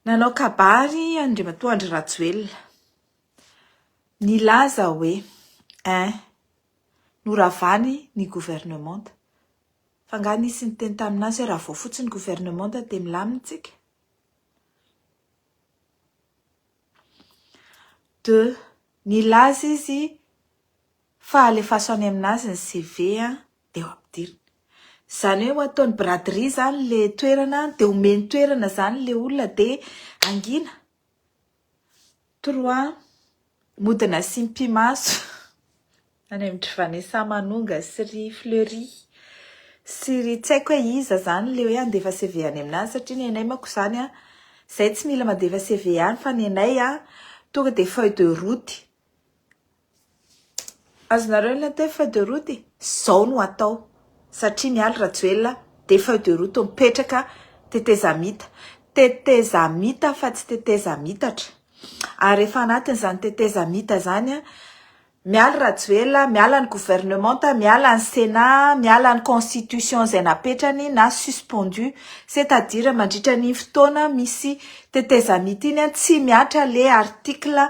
Nanao kabary Andriamatoa Andry Rajoelina. Nilaza hoe ein, noravany ny governemanta. Fa nga nisy niteny tamin'azy hoe raha vao fotsy ny governemanta dia milamina isika? Deux, nilaza izy Fa alefaso any aminazy ny CV a, dia ho ampidiriny. Izany hoe ho ataony braderie izany ilay toerana, dia omeny toerana izany ilay olona dia hangina. Trois, mody nasiam-pimaso any amin-dry Vanessa Manonga sy ry Fleury sy ry tsy haiko hoe iza izany ilay hoe handefa CV any aminazy satria ny anay manko izany a, izahay tsy mila mandefa CV any fa ny anay a, tonga dia feuille de route. Azonareo ny atao hoe feuille de route e! Zao no atao satria Mialy Rajoelina dia feuille de route mipetraka tetezamita. Tetezamita fa tsy tetezamitatra. Ary efa anatin'izany tetezamita izany Mialy Rajoelina, miala ny gouvernemanta, miala ny Sénat, miala ny constitution izay napetrany na suspendu. C'est à dire mandritra an'iny fotoana misy tetezamita iny tsy mihatra ilay article.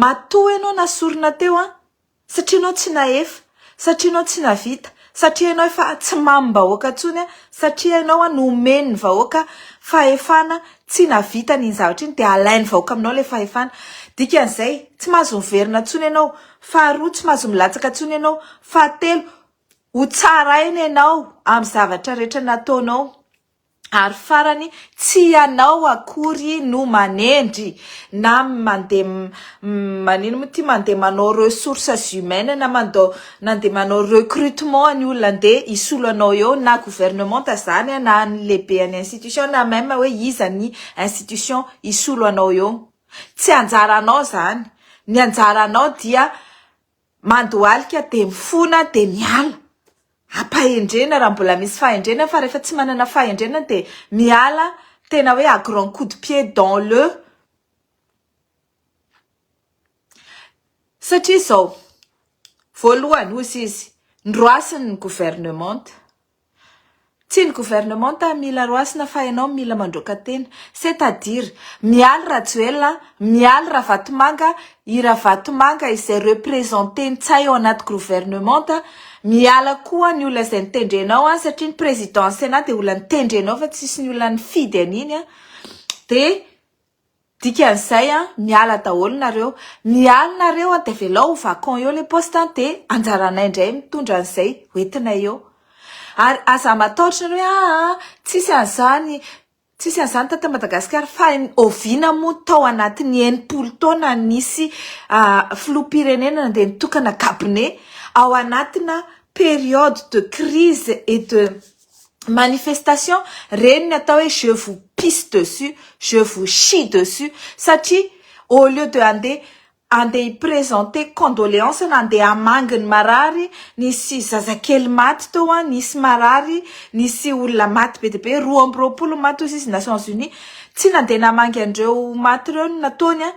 Matoa ianao nasorina teo an! Satria ianao tsy nahefa, satria ianao tsy navita, satria ianao efa tsy mamim-bahoaka intsony an! Satria ianao nomen'ny vahoaka fahefana tsy navitany iny zavatra iny dia alain'ny vahoaka aminao ilay fahefana. Dikan'izay, tsy mahazo miverina intsony ianao. Faharoa, tsy mahazo milatsaka intsony ianao. Fahatelo, hotsaraina ianao amin'ny zavatra rehetra nataonao. Ary farany, tsy ianao akory no manendry na mandeha manino moa ity, mandeha manao ressources humaines na mandao nandeha manao recrutement ny olona andeha hisolo anao eo na gouvernementa izany na ny lehibean'ny institution na même hoe iza ny institution hisolo anao eo. Tsy anjaranao izany. Ny anjaranao dia Mandohalika dia mifona dia miala. Ampahendrena raha mbola misy fahendrena fa rehefa tsy manana fahendrena dia miala tena hoe à grand coup de pied dans le satria izao, voalohany hozy izy, ndroasiny ny gouvernementa, Tsy ny gouvernementa mila roasina fa ianao mila mandroaka tena, c'est à dire mialy Rajoelina, mialy Ravatomanga, i Ravatomanga izay represente Ntsay ao anaty grouvernementa, miala koa ny olona izay nitendre anao an, satria ny président ny Sénat dia olona nitendre anao fa tsisy ny olona nifidy an'iny an, dia Dikan'izay an, miala daholo nareo, miala nareo an, de avelao ho vacant eo le poste an, de anjaranay ndray mitondra an'izay hoentinay eo. Ary aza matahotra nareo hoe aa tsisy an'izany, tsisy an'izany taty Madagasikara, fa oviana moa tao anatin'ny enimpolo taona nisy filoham-pirenena nandeha nitokana cabinet ao anatina période de crise et de manifestation reny ny atao hoe je vous pisse dessus, je vous chie dessus satria au lieu de andeha andeha hi presenter condoleance na andeha hamangy ny marary, nisy zazakely maty teo an, nisy marary, nisy olona maty be dia be, roa amby roapolo ny maty hoy izy Nations Unies, tsy nandeha namangy an'ireo maty ireo no nataony an,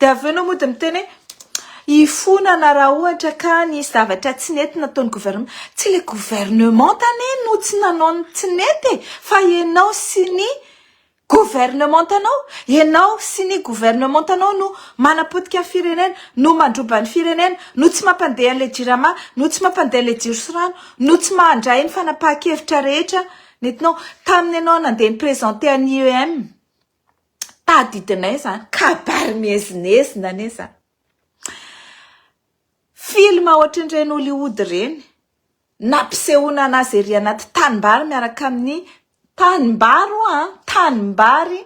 Dia avy eo enao mody miteny hoe hifonana raha ohatra ka nisy zavatra tsy nety nataon'ny gouvernement. Tsy ilay gouvernement anie no tsy nanao ny tsy nety e! Fa enao sy ny gouvernement anao. Enao sy ny gouvernement anao no manapotika ny firenena, no mandroba ny firenena, no tsy mampandeha an'ilay jirama, no tsy mampandeha an'ilay jiro sy rano, no tsy mandray ny fanapahan-kevitra rehetra nentinao. Tamin'ny enao nandeha ni-presenter an'i IEM. tadidinay zany kabary miezinezina anie zany film ohatrin'ireny Hollywood ireny nampisehoana anazy ery anaty tanimbary miaraka amin'ny tanimbary oa tanimbary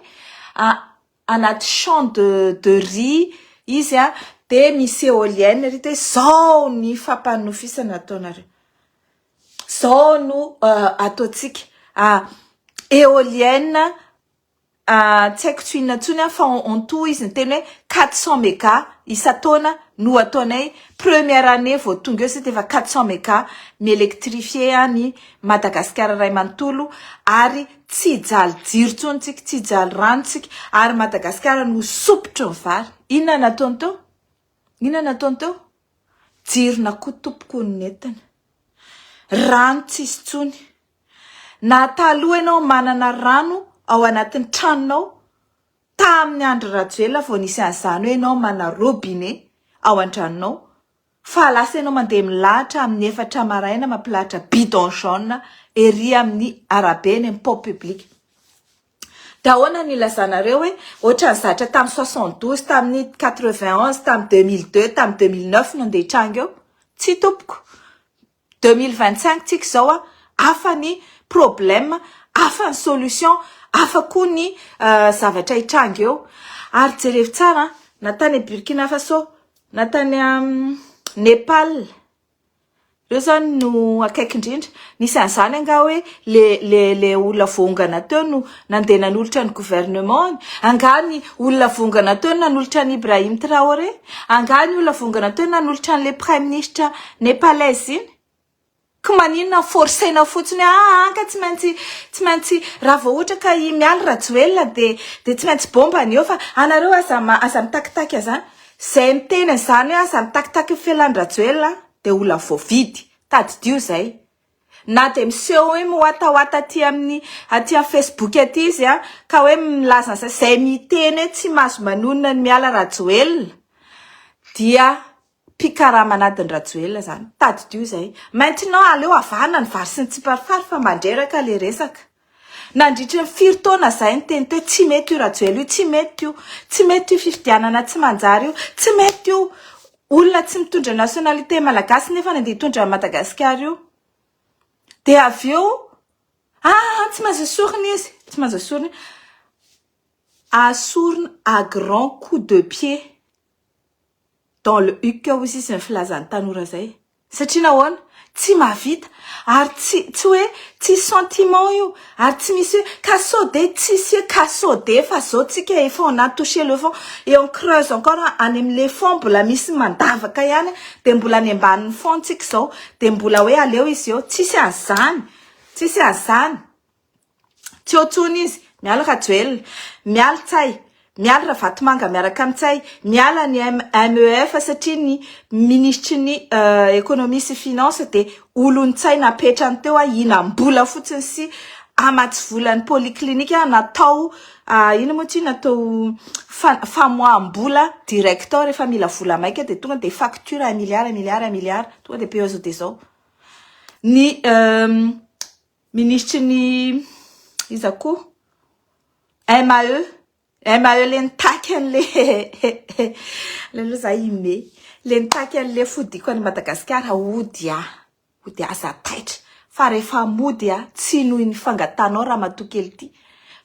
anaty champ de de riz izy a de misy eolienne ery de zao ny fampanofisana ataonareo zao no ataontsika eolienne tsy haiko tsy ho inona intsony aho fa on tout izy niteny hoe quatre cent mega isan-taona no ataonay première année vao tonga eo sisa efa quatre cent mega mi-électrifier an' i Madagasikara iray manontolo ary tsy hijaly jiro intsony isika, tsy hijaly rano isika ary Madagasikara no ho sopitry ny vary. Inona no nataony teo? Inona no nataony teo? Jirona koa tompoko no nentiny. Rano tsy hisy intsony. Na taloha ianao manana rano ao anatin'ny tranonao, tamin'ny Andry Rajoelina vao nisy an'izany hoe ianao manana robinet ao an-tranonao fa lasa ianao mandeha milahatra amin'ny efatra maraina mampilahatra bidon jaune ery amin'ny arabe eny amin'ny pont public. Dia ahoana no ilazanareo hoe ohatran'ny zatra tamin'ny soixante douze, tamin'ny quatre vingt onze, tamin'ny deux mille deux, tamin'ny deux mille neuf no andeha hitranga eo? Tsia tompoko. Deux mille vingt cinq tsika izao a, hafa ny problème, hafa ny solution, hafa koa ny zavatra hitranga eo. Ary jerevo tsara an, na tany à Burkina Faso, na tany à Nepal, reo zany no akaiky indrindra. Nisy an'izany angaha hoe le le le olona voaongana teo no. Nandeha nanolotra ny gouvernement-ny. Angaha ny olona vongana teo no nanolotra an'i Ibrahim Traoré? Angaha ny olona vongana teo no nanolotra an'ilay praiminisitra Nepalais iny? Ka maninona forcer-na fotsiny hoe ah an ka tsy maintsy tsy maintsy raha vao ohatra ka i Mialy Rajoelina dia dia tsy maintsy bomba ny eo fa anareo aza aza mitakitaky an'izany. Izay miteny an'izany hoe aza mitakitaky ny fialan-dRajoelina dia olona voavidy. Tadidio izay. Na dia miseho hoe miwatawata aty amin'ny aty amin'ny Facebook aty izy an, ka hoe milaza an'izay, izay miteny hoe tsy mahazo manonona ny miala Rajoelina dia mpikarama an'adin'i Rajoelina izany. Tadidio izay. Maintenant aleo avahana ny vary sy ny tsiparifary fa mandreraka ilay resaka. Nandritry ny firy taona zahay niteny teo tsy mety io Rajoelina io, tsy mety io, tsy mety io fifidianana tsy manjary io, tsy mety io olona tsy mitondra nationalité malagasy nefa nandeha hitondra an'i Madagasikara io. Dia avy eo ah tsy maintsy esorina izy, tsy maintsy esorina izy, asorina à grand coup de pied dans le huc hoy sisa ny filazan'ny tanora zay. Satria nahoana? Tsy mahavita, ary tsy, tsy hoe tsisy sentiment io, ary tsy misy hoe ka sao de tsisy hoe ka sao de fa zao tsika efa on a touche le fond et on creuse encore any amin le fond mbola misy mandavaka ihany de mbola any ambanin ny fond tsika zao de mbola hoe aleo izy eo, tsisy an'zany, tsisy an'zany. Tsy eo tsony izy, miala Rajoel, miala Ntsay, miala Ravatomanga miaraka am Ntsay, miala ny MEF satria ny minisitry ny ekonomia sy finance dia olon Ntsay napetrany teo hihinam bola fotsiny sy hamatsy vola ny polyclinique natao inona moa tsia natao famoaham bola direct ao rehefa mila vola maika dia tonga dia facture un milliard un milliard un milliard tonga dia peugeot dia zao ny Minisitry ny iza koa? MAE, MAE le nitaky an'le le aloha za i Me le nitaky an'le fodiako any Madagasikara hody aho, hody aho za taitra fa rehefa mody aho tsy noho ny fangatahanao ramatoa kely ty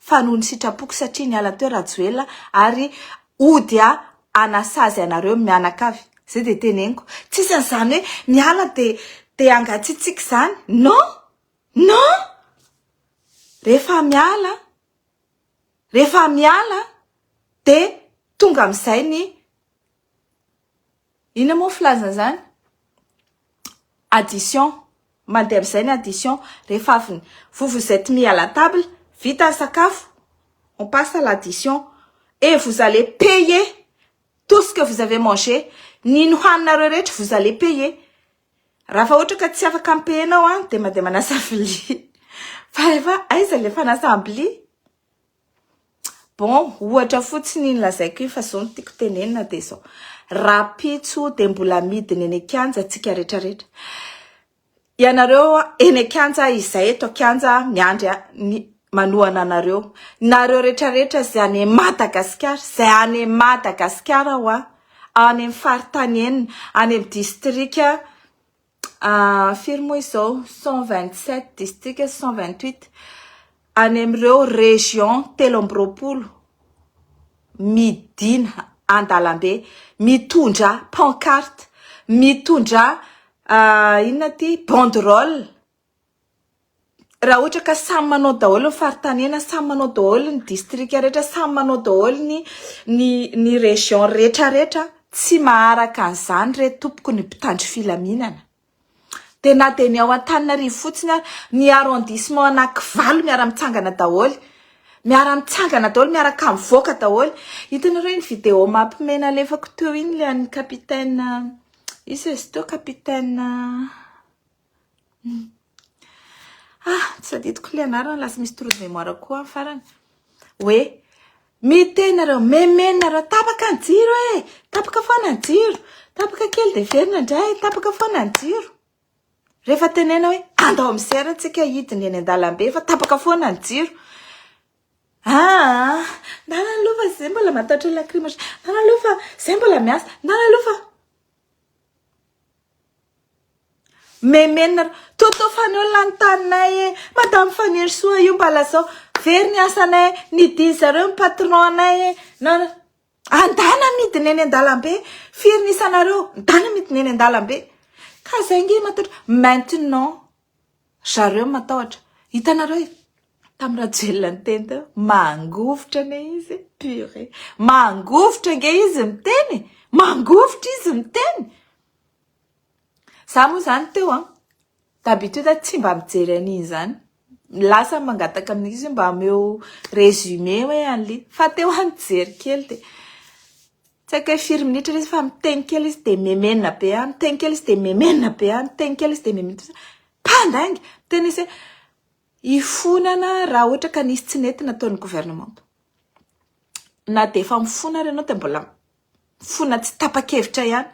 fa noho ny sitrapoko satria niala teo Rajoelina ary Ody a! hanasazy anareo ny mianakavy, zay dia teneniko, tsisy an'izany hoe miala dia dia hangatsiatsiaka izany, non! Non! Rehefa miala, rehefa miala dia tonga amin'izay ny Inona moa filazana izany? Addition. Mandeha amin'izay ny addition. Rehefa avy ny vous vous êtes mis à la table, vita ny sakafo, on passe à l'addition. Et vous allez payer tout ce que vous avez mangé. Ny nohaninareo rehetra vous allez payer. Raha fa ohatra ka tsy afaka mi-payer nao dia mandeha manasa vilia. Fa efa aiza ilay fanasam-bilia? Bon, ohatra fotsiny iny lazaiko iny fa izao no tiako tenenina dia izao, rahampitso dia mbola midina eny an-kianja antsika rehetra rehetra. Ianareo eny an-kianja, izahay eto an-kianja miandry ny manohana anareo. Nareo rehetra rehetra izay any Madagasikara, izay any Madagasikara ho'a, any amin'ny faritany enina, any amin'ny distrika. Ah, firy moa izao? Cent vingt sept districts sy cent vingt huit any amin'ireo régions telo amby roapolo midina an-dalambe mitondra pancarte, mitondra inona ity? Banderole. Raha ohatra ka samy manao daholo ny faritanena, samy manao daholo ny distrika rehetra, samy manao daholo ny ny ny région rehetra rehetra, tsy maharaka an'izany re tompoko ny mpitandro filaminana. Dia na dia ny ao Antananarivo fotsiny ary, ny arrondissement anakivalo miara-mitsangana daholo, miara-mitsangana daholo, miaraka mivoaka daholo. Hitanareo iny video mampime nalefako teo iny ilay an'ny capitaine, iza izy teo? Capitaine. Ah, tsy adidiko ilay anarana, lasa misy trou de mémoire koa amin'ny farany. Hoe, miteny nareo, memeno nareo, tapaka ny jiro e, tapaka foana ny jiro, tapaka kely dia verina indray, tapaka foana ny jiro. Rehefa tenena hoe, andao misera antsika hidina eny an-dalambe fa tapaka foana ny jiro. Ah, ndana aloha fa izay mbola matahotra lacrymogène, ndana aloha fa izay mbola miasa, ndana aloha fa... Memenina Toto fa ny olona ny taninay e madame Fanirisoa io mba lazao very ny asanay nidiny zareo ny patron anay e na andana midina eny an-dalambe firy ny isanareo midana midina eny an-dalambe ka zay nge matotra maintenant Zareo matahotra. Hitanareo e! Tamin'ny Rajoelina niteny teo, mangovitra anie izy e! Purée! Mangovitra ange izy miteny e! Mangovitra izy miteny! Za moa zany teo an, d'habitude tsy mba mijery an'iny zany. Lasa mangataka amin'izy mba ameo résumé hoe an'ly. Fa teo an nijery kely dia. Tsy haiko hoe firy minitra ilay izy fa miteny kely izy dia memena be ahy, miteny kely izy dia memena be ahy, miteny kely izy dia memena be ahy. Mpandainga! Miteny izy hoe hifonana raha ohatra ka nisy tsy nety nataon'ny governemanta. Na dia efa mifona ary ianao dia mbola mifona tsy tapa-kevitra ihany.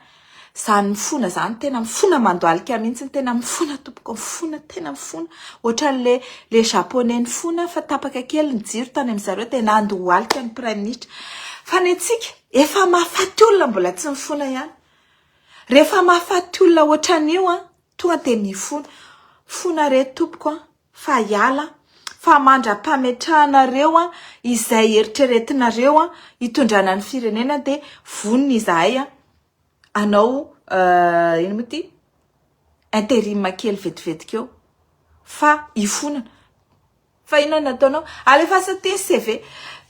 Zany mifona zany tena mifona mandoalika mihitsy tena mifona tompoko mifona tena mifona ohatran'le le japonais nifona fa tapaka kely ny jiro tany amin-dry zareo dia nandohalika ny praiminisitra fa ny antsika efa mahafaty olona mbola tsy mifona ihany rehefa mahafaty olona ohatran'io an tonga dia mifona fona re tompoko an Fa hiala fa mandra-pametrahanareo izay eritreretinareo hitondrana ny firenena dia vonona izahay hanao inona moa ity interim kely vetivety keo fa hifonana. Fa inona no nataonao? Alefaso aty ny CV.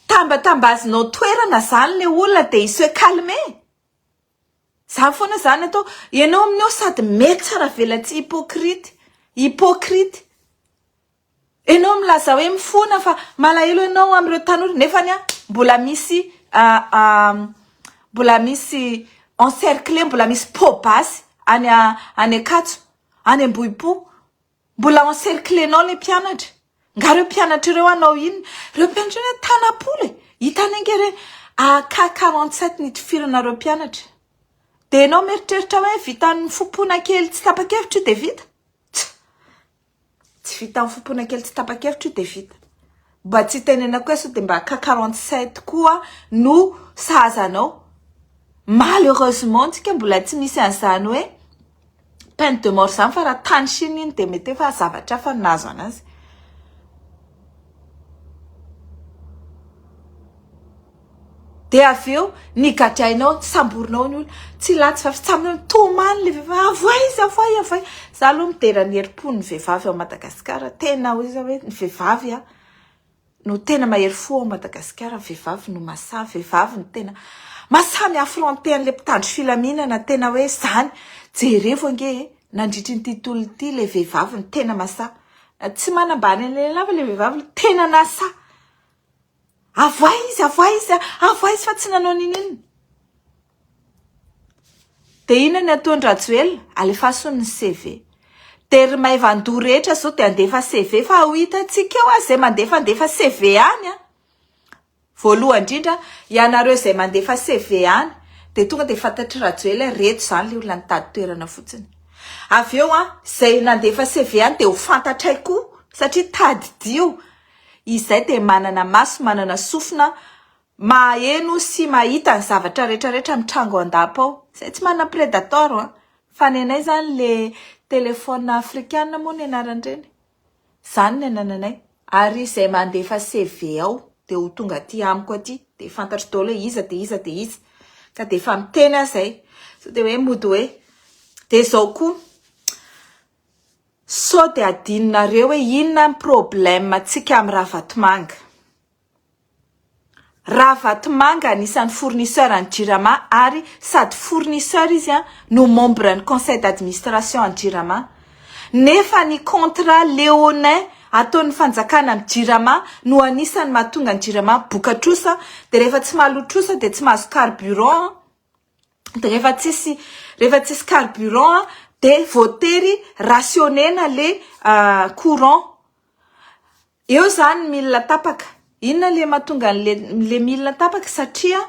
Tambatambazinao toerana izany ilay olona dia hiseho calme. Za foana zany atao enao amin'io aho sady metsa ravelatsihy hypocrite hypocrite enao milaza hoe mifona fa malahelo enao amin'ireo tanora nefa anie mbola misy mbola misy encercler mbola misy pot basy any any ankatso any ambohipo Mbola encerclenao ilay mpianatra. Nga reo mpianatra ireo hanao inona? Reo mpianatra ireo tanam-polo e! Hitanay nge re AK 47 nitifirana reo mpianatra. Dia ianao mieritreritra hoe vitan'ny fompoana kely tsy tapa-kevitra io dia vita? Tsa! Tsy vitan'ny fompoana kely tsy tapa-kevitra io dia vita. Mba tsy itenenako hoe sao dia mba cas quarante sept koa no sahaza anao. Malheureusement antsika mbola tsy misy an'izany hoe peine de mort izany fa raha tany Chine iny dia mety efa zavatra hafa no nahazo an'azy. Dia avy eo ny gadrainao, samborinao ny olona, tsy latsy fa fitsambina, tomany ilay vehivavy, avoay izy, avoay, avoay. Za aloha midera ny herim-pon'ny vehivavy ao Madagasikara, tena hoe izao hoe ny vehivavy no tena mahery fo ao Madagasikara, ny vehivavy no mahasahy, ny vehivavy no tena mahasahy mi-affronter an'ilay mpitandro filaminana, tena hoe izany. Jerevo ange e! nandritry ity tontolo ity ilay vehivavy no tena mahasahy. Tsy manambany an'ilay lehilahy fa ilay vehivavy no tena nahasahy. Avoay izy, avoay izy, avoay izy fa tsy nanao n'inon'inona. Dia inona ny ataon-dRajoelina? Alefaso ny CV. Dia ry maivan-doha rehetra izao dia handefa CV fa ho hitantsika eo izay mandefandefa CV any an! Voalohany indrindra, ianareo izay mandefa CV any dia tonga dia fantatr'i Rajoelina hoe ireto izany ilay olona nitady toerana fotsiny. Avy eo an, izay nandefa CV any dia ho fantatray koa satria tadidio. Izay dia manana maso, manana sofina, maheno sy mahita ny zavatra rehetra rehetra mitranga ao an-dapa ao. Izay tsy manana predator an! Fa nenay izany ilay téléphone afrikana moa ny anaran'ireny. Izany ny anananay. Ary izay mandefa CV ao dia ho tonga aty amiko aty dia fantatro daholo hoe iza dia iza dia iza. Ka dia efa miteny aho izay. Sao dia hoe mody hoe dia izao koa. Sao dia adinonareo hoe inona ny problème antsika amin'ny Ravatomanga. Ravatomanga anisan'ny fournisseur an'ny Jirama ary sady fournisseur izy no membre ny conseil d'administration an'ny Jirama nefa ny contrat léonin ataon'ny fanjakana amin'ny Jirama no anisan'ny mahatonga ny Jirama boka trosa dia rehefa tsy mahaloa trosa dia tsy mahazo carburant an! de rehefa tsisy rehefa tsisy carburant de voatery rationner-na le courant eo zany mila tapaka inona le mahatonga anle le mila tapaka satria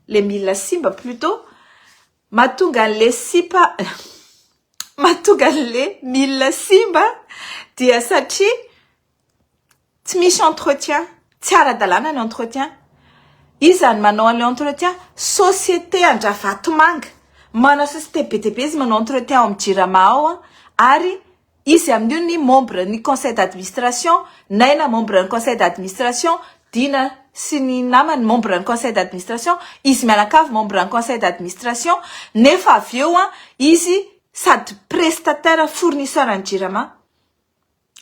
le mila simba plutot mahatonga anle sipa mahatonga anle mila simba dia satria Tsy misy entretien, tsy ara-dalàna ny entretien. Iza no manao an'ilay entretien? Société an-dRavatomanga. Manana société be dia be izy manao entretien ao amin'ny Jirama ao ary izy amin'io ny membre ny conseil d'administration, Naina membre ny conseil d'administration, Dina sy ny namany membre ny conseil d'administration, izy mianakavy membre ny conseil d'administration nefa avy eo izy sady prestataire fournisseur an'ny Jirama.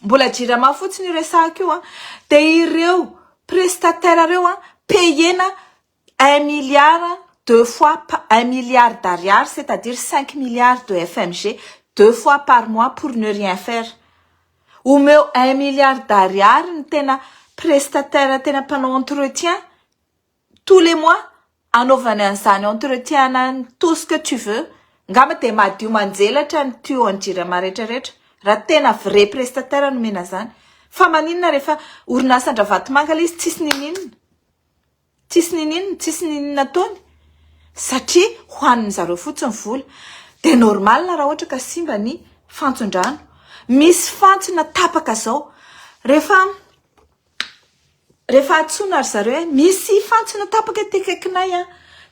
Mbola jirama fotsiny io resahako io an, dia ireo prestataire ireo an, payena un milliard deux fois pa- un milliard d'ariary c'est à dire cinq milliards de FMG deux fois par mois pour ne rien faire. Omeo un milliard d'ariary ny tena prestataire tena mpanao entretien tous les mois anaovany an'izany entretien na ny tout ce que tu veux ngamba dia madio manjelatra ny tuyau an'i jirama rehetra rehetra raha tena vrai prestataire no omena zany fa maninona rehefa orinasan-dRavatomanga ilay izy tsisy niniana tsisy niniana tsisy niniana ataony satria hohanin'ny zareo fotsiny vola dia normal raha ohatra ka simba ny fantson-drano misy fantsona tapaka zao rehefa Rehefa antsoina ry zareo hoe misy fantsona tapaka ety akaikinay an!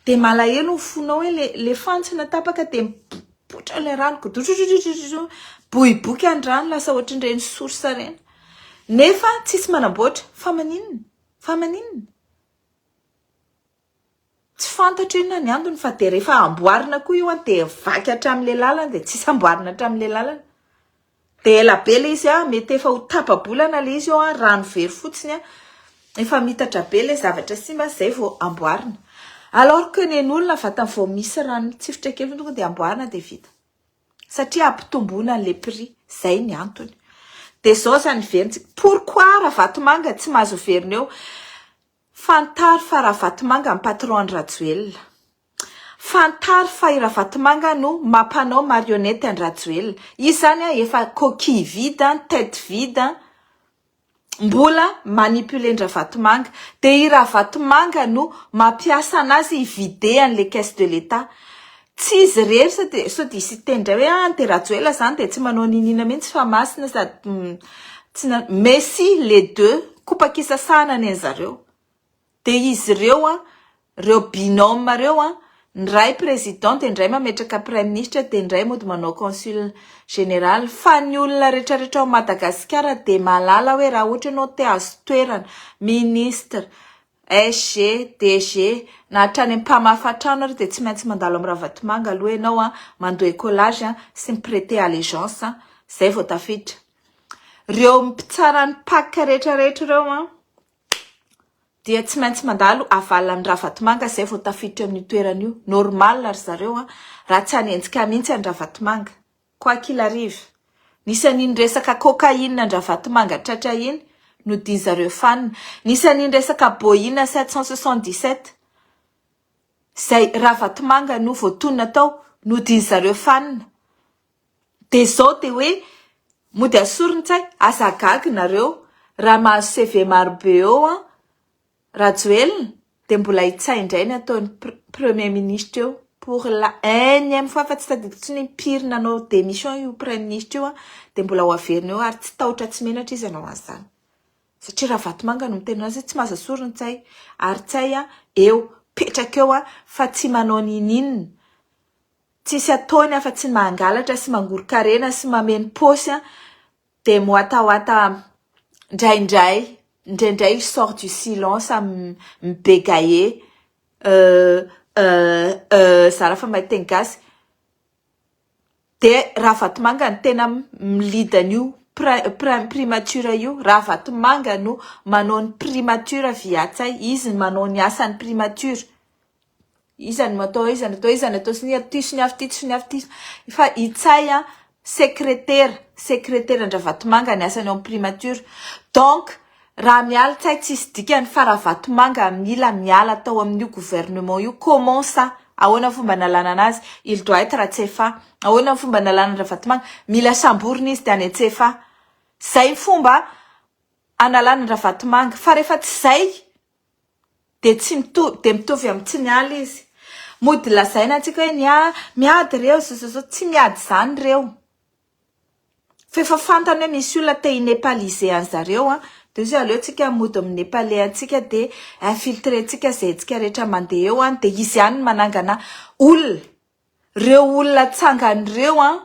dia malahelo ny fonao hoe le le fantsona tapaka dia mipoitra ilay rano godrogodrogodrogodro miboiboika ny rano lasa ohatran'ireny source ireny nefa tsisy manamboatra fa maninona fa maninona? Tsy fantatro inona ny antony fa dia rehefa amboarina koa io dia vaky hatramin'ilay lalana dia tsisy amboarina hatramin'ilay lalana. Dia ela be ilay izy mety efa ho tapa-bolana ilay izy eo rano very fotsiny efa miitatra be ilay zavatra simba izay vao amboarina. Alors que nen'olona vatany vao misy rano mitsifotra kely fotsiny tonga dia amboarina dia vita. Satria hampitomboana an'ilay prix. Izay ny antony. Dia izao izany heverintsika. Pourquoi Ravatomanga tsy mahazo heverina eo? Fantaro fa Ravatomanga ny patron an'i Rajoelina. Fantaro fa i Ravatomanga no maha mpanao marionnette an'i Rajoelina. Izy izany an efa coquille vide an, tête vide an, mbola manipulen-dRavatomanga. Dia i Ravatomanga no mampiasa anazy hi-vider an'ilay caisse de l'Etat. Tsy izy irery sao dia sao dia hisy hiteny indray hoe ah an'ity Rajoelina izany dia tsy manao niniana mihitsy fa masina sady tsy na mais si les deux kopa-kisasahana ny an'i zareo dia izy ireo an ireo binôme ireo an ny iray président dia ny iray mametraka praiminisitra dia ny iray mody manao consul général fa ny olona retraretra ao Madagasikara dia mahalala hoe raha ohatra ianao te hahazo toerana ministre SG, DG, na hatrany amin'ny mpamafa trano ary dia tsy maintsy mandalo amin'i Ravatomanga aloha ianao an, mandoa écolage an, sy mi-preter allégeance an, izay vao tafiditra. Ireo mpitsara ny pac rehetra rehetra ireo an, dia tsy maintsy mandalo havalona amin'i Ravatomanga izay vao tafiditra eo amin'io toerana io. Normal ry zareo an, raha tsy hanenjika ahy mihitsy an'i Ravatomanga. Quoi qu'il arrive, nisy an'iny resaka cocaïne an-dRavatomanga tratra iny nodian'zareo fanina, nisy an'iny resaka Boeing sept cent soixante dix sept izay Ravatomanga no voatonona tao nodian'zareo fanina, dia zao dia hoe mody asorin-tsay, aza gaga nareo raha mahazo CV marobe eo an, Rajoelina dia mbola hitsay indray ny ataony premier ministre eo pour la enième fois fa tsy tadidiko tsony impiry nanao demission io praiministra io dia mbola ho averina eo ary tsy tahotra tsy menatra izy anao an'izany satria ravatomanga no miteny anazy tsy maza sorony tsay ary tsay a eo petraka eo a fa tsy manao ninin tsisy ataony afa tsy mangalatra sy mangoron-karena sy mameno posy a Dia miwatawata ndraindray, ndraindray il sort du silence mi-begaye, euh, euh, euh, zara fa mahay teny gasy, dia Ravatomanga no tena mi-lead an'io prin-prin primature io, Ravatomanga no manao ny primature via Ntsay, izy no manao ny asan'ny primature. Iza no atao aiza no atao aiza no atao sy ny aty sy ny avy tity sy ny avy tity fa Itsay a sekretera sekreteran-dRavatomanga ny asany ao amin'ny primature donc raha miala Itsay tsisy dikany fa Ravatomanga mila miala tao amin'io gouvernement io comment ça ahoana ny fomba nalana anazy il doit être CFA ahoana ny fomba nalana an-dRavatomanga mila samborina izy dia any an-CFA zay ny fomba analana an-dRavatomanga fa rehefa tsy zay dia tsy mitovy dia mitovy amin'ny tsy miala izy. Mody lazaina antsika hoe ny ahy miady ireo zozoro tsy miady izany ireo. F'efa fantany hoe misy olona te hi nepaliser an'i zareo an! Dia zao aleontsika mody mi nepaler antsika dia infiltrer ntsika izay hetsika rehetra mandeha eo an! Dia izy ihany no manangana olona. Ireo olona tsangany ireo an!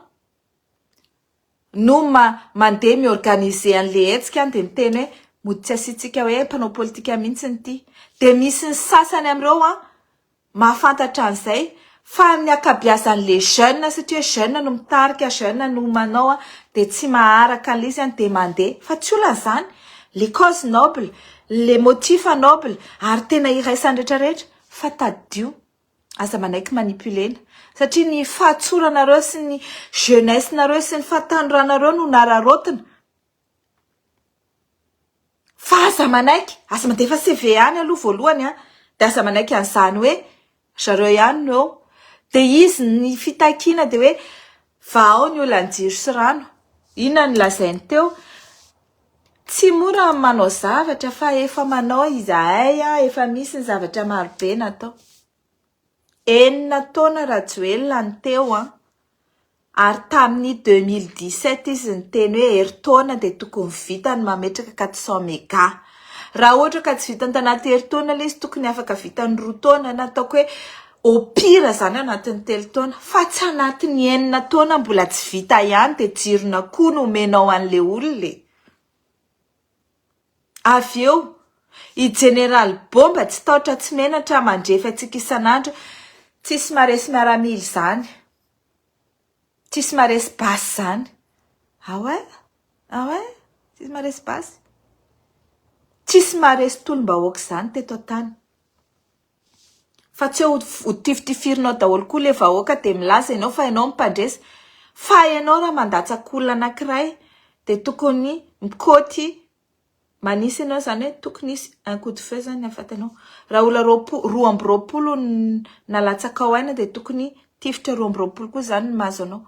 No ma mandeha mi-organiser an'le hetsika dia miteny hoe mody tsy asiantsika hoe mpanao politika mihitsy ity. Dia misy ny sasany amin'ireo mahafantatra an'izay fa ny ankabiazan'le jeune satria jeune no mitarika, jeune no manao dia tsy maharaka an'le izy dia mandeha. Fa tsy olana izany, le cause noble, le motif noble ary tena iraisan'ny rehetra rehetra fa tadidio. Aza manaiky manipulena satria ny fahatsoranareo sy ny jeunesse nareo sy ny fahatanoranareo no nararaotina fa aza manaiky aza mandefa CV any aloha voalohany an de aza manaiky an'izany hoe zareo ihany no eo de izy ny fitakiana de hoe vahao ny olan'ny jiro sy rano inona no lazainy teo Tsy mora ny manao zavatra fa efa manao izahay efa misy ny zavatra marobe natao. Enina taona Rajoelina no teo an, ary tamin'ny deux mille dix sept izy niteny hoe herintaona dia tokony vita ny mametraka quatre cent mega. Raha ohatra ka tsy vitany tanaty herintaona ilay izy tokony afaka vitany roa taona na ataoko hoe Au pire izany anatin'ny telo taona fa tsy anatin'ny enina taona mbola tsy vita ihany dia jiron'akoho no omenao an'ilay olona e! Avy eo, i Jeneraly Bomba tsy taotra tsy menatra mandrefy antsika isan'andro, tsisy maresy miaramila izany, tsisy maresy basy izany. Ah ouais? Ah ouais? Tsisy maresy basy? Tsisy maresy tolom-bahoaka izany teto an-tany. Fa tsy eo ho tifitifirinao daholo koa le vahoaka de milaza enao fa enao no mpandresy fa enao raha mandatsaka olona anakiray de tokony mikoty manisy enao izany hoe tokony hisy un coup de feu zany afatanao raha olona roapolo roa amby roapolo nalatsakao aina de tokony tifitra roa amby roapolo koa zany no mahazo anao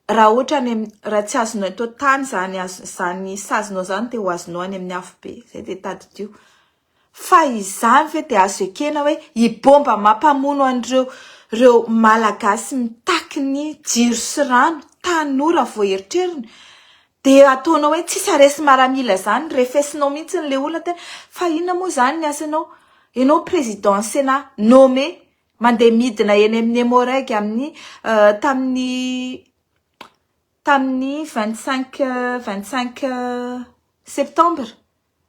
raha ohatra any am raha tsy azonao eto an-tany zany azonao zany sazinao zany de ho azonao any amin'ny afobe zay de tadidio. Fa izany ve dia azo ekena hoe i bomba mampamono an'ireo reo malagasy mitaky ny jiro sy rano, tanora vao eritreriny, dia ataonao hoe tsy saresy maramila zany, refesinao mihintsy ny le olona tena, fa inona moa zany ny asanao, enao président sena nommé, mandeha midina eny amin'ny emmo-reg amin'ny tamin'ny tamin'ny vingt cinq vingt cinq septembre.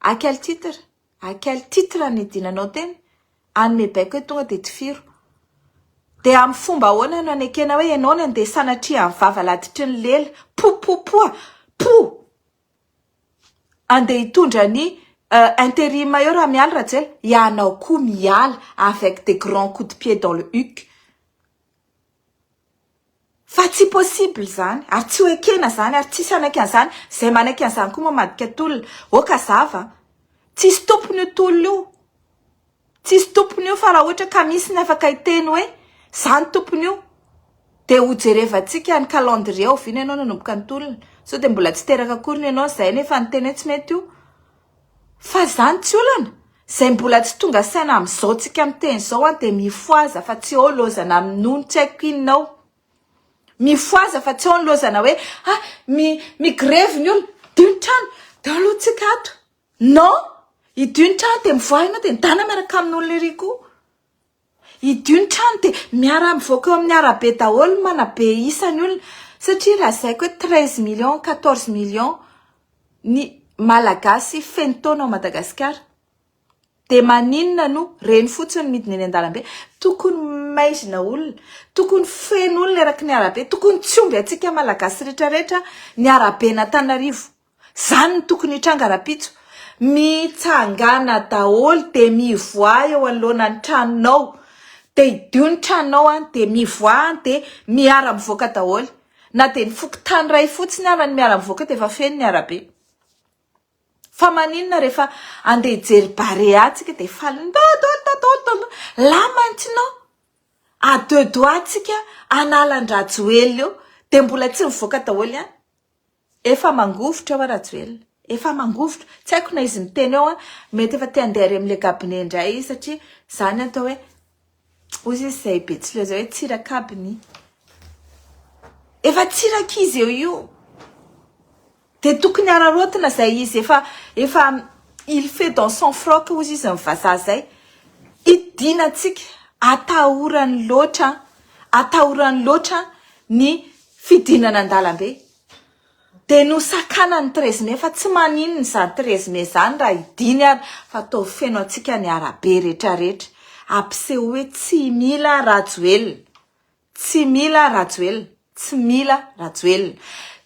A quel titre? A quel titre ny dinanao teny? Hanome baiko hoe tonga dia tifiro. Dia amin'ny fomba ahoana no anekena hoe ianao no andeha sanatria amin'ny vava laditry ny lela, popopoa, pou! Andeha hitondra ny interim eo raha mialy Rajoelina? Ianao koa miala avec des grands coups de pied dans le huc. Fa tsy possible zany ary tsy ho ekena zany ary tsisy hanaiky an'zany, zay manaiky an'zany koa moa madika tolona, ok azava a! tsisy tompony io tolona io, tsisy tompony io fa raha ohatra ka misy ny afaka hiteny hoe zany tompony io de ho jerevantsika ny calendrier oviana ianao nanomboka ny tolona, sao de mbola tsy teraka akory ny anao, zay anie efa niteny hoe tsy mety io. Fa zany tsy olana? Zay mbola tsy tonga saina amizao tsika miteny zao an de mifoaza fa tsy eo lozana am nony tsy aiko inona ao. Mifoaza fa tsy eo ny lozana hoe ha mi mi grevy ny olona dio ny trano de alo tsika ato. Non! Hidio ny trano de mivoaha enao de midana miaraka amin'olona ery koa. Hidio ny trano dia miara-mivoaka eo amin'ny arabe daholo ny manabe isan'ny olona satria lazaiko hoe treize millions, quatorze millions ny Malagasy feno taona ao Madagasikara dia maninona no reny fotsiny ny midina eny an-dalambe? Tokony maizina olona, tokony feno olona eraky ny arabe, tokony tsy omby antsika Malagasy rehetra rehetra ny araben'Antananarivo. Zany no tokony hitranga rapitso. Mitsangana daholo de mivoaha eo anoloana ny tranonao de hidio ny tranonao any de mivoaha any de miara mivoaka daholo na de ny fokontany ray fotsiny ara ny miara mivoaka de efa feno ny arabe fa maninona rehefa andeha hijery barea tsika de faly dadaoldadaoldadao là maintenant à deux doigts tsika an'alan-drajoelina eo de mbola tsy mivoaka daholo ihany Efa mangovitra oa Rajoelina. Efa mangovitra. Tsy haiko na izy miteny eo an, mety efa te handeha ary amin'ilay gabone indray izy satria izany atao hoe, hoy izy izay betsileo izay hoe tsirakabiny. Efa tsy irak'izy eo io. Dia tokony hararaotina izay izy efa efa il fait dans son froc hoy izy izay vazaha izay. Hidiana antsika. Atahorany loatra an. Atahorany loatra ny fidinana an-dalambe dia nosakanan'ny treize mai fa tsy maninona izany treize mai izany raha hidiny ary fa toa feno antsika ny arabe retraretra ampiseho hoe tsy mila rajoelina tsy mila rajoelina tsy mila rajoelina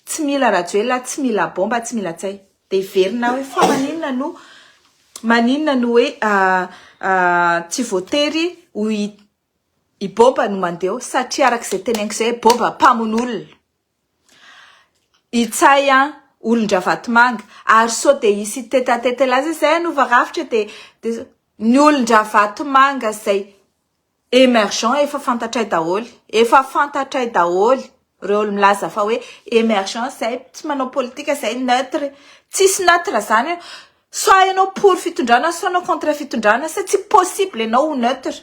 tsy mila rajoelina tsy mila bomba tsy mila tsay dia hiverina hoe fa maninona no maninona no hoe ah, ah, tsy voatery ho I Boba no mandeho satria araka izay teneniko izay Boba mpamono olona. Itsay an, olon-dRavatomanga. Ary sao dia hisy tête à tête laza izay hanova rafitra dia dia ny olon-dRavatomanga izay emergent efa fantatray daholo. Efa fantatray daholo Reo ol milaza fa hoe emergent zay tsy manao politika zay neutre tsisy neutre zany io soit ianao pour fitondrana soit ianao contre fitondrana sa tsy possible ianao ho neutre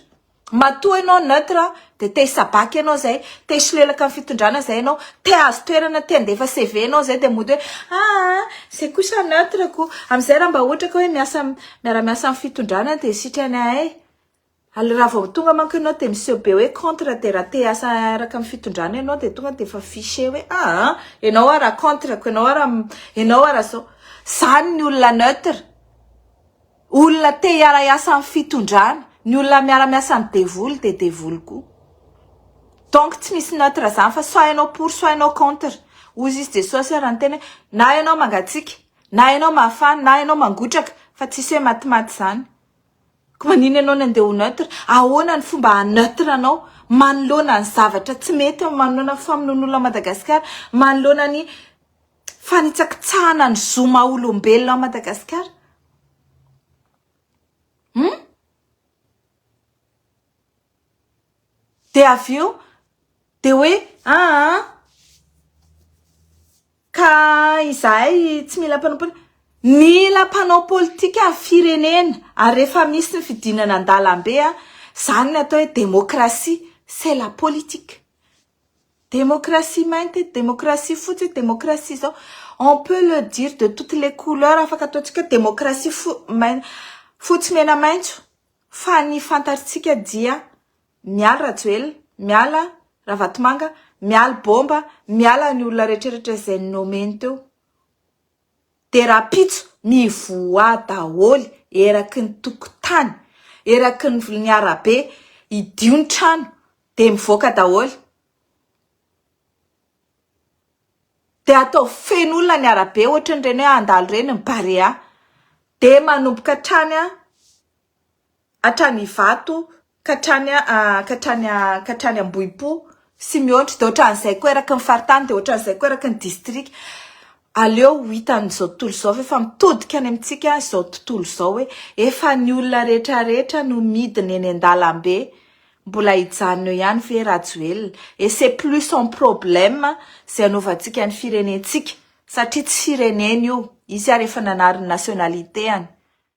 matoa ianao neutre de te hisabaky ianao zay te hisolelaka amin'ny fitondrana zay ianao te hahazo toerana te handefa CV anao zay de mody hoe aa zay kosa neutre ko amizay raha mba ohatra ka hoe miasa miara-miasa amin'ny fitondrana de sitranahay Ary raha vao tonga manko ianao dia miseho be hoe contre dia raha te hiasa araka ny fitondrana ianao dia tonga dia efa fiché hoe aa ianao hoa raha contre ko ianao hoa raha ianao hoa raha zao zany ny olona neutre olona te hiara hiasa amin'ny fitondrana ny olona miara miasa amin'ny devoly dia devoly koa donc tsy misy neutre zany fa soit ianao pour soit ianao contre hoy izy jesosy ary niteny hoe na ianao mangatsiaka na ianao mafana na ianao mangotraka fa tsisy hoe matimaty zany Ko manino ianao ny andeha ho neutre? Ahoana ny fomba haha neutre anao manoloana ny zavatra tsy mety eo, manoloana ny famonoan'olona Madagasikara, manoloana ny fanitsakitsahana ny zo maha olombelona ao Madagasikara? Hum? Dia avy eo dia hoe aa ka izahay tsy mila mpanao politika. Mila mpanao politika ny firenena ary rehefa misy ny fidinana an-dalambe izany no atao hoe demokrasia, c'est la politique. Demokrasia mainty eto, demokrasia fotsy eto, demokrasia izao. On peut le dire de toutes les couleurs, afaka ataontsika hoe demokrasia fo- mainty fotsy mena maitso. Fa ny fantarintsika dia mialy Rajoelina, miala Ravatomanga, mialy Bomba, miala ny olona rehetrrehetra izay nomeny teo dia rahampitso mivoaha daholo eraky ny tokotany, eraky ny arabe, hidio ny trano dia mivoaka daholo. Dia atao feno olona ny arabe ohatry ireny hoe handalo ireny ny Barea. Dia manomboka hatrany hatrany Ivato ka hatrany ka hatrany ka hatrany Ambohipo sy mihoatra dia ohatran'izay koa eraky ny faritany dia ohatran'izay koa eraky ny distrika. Aleo ho hitan'izao tontolo izao ve fa mitodika any amintsika izao tontolo izao hoe efa ny olona rehetra rehetra no midina eny an-dalambe, mbola hijanona eo ihany ve Rajoelina? Et c'est plus son problème izay hanaovantsika ny firenentsika satria tsy fireneny io, izy ary efa nanary ny nationalité-any.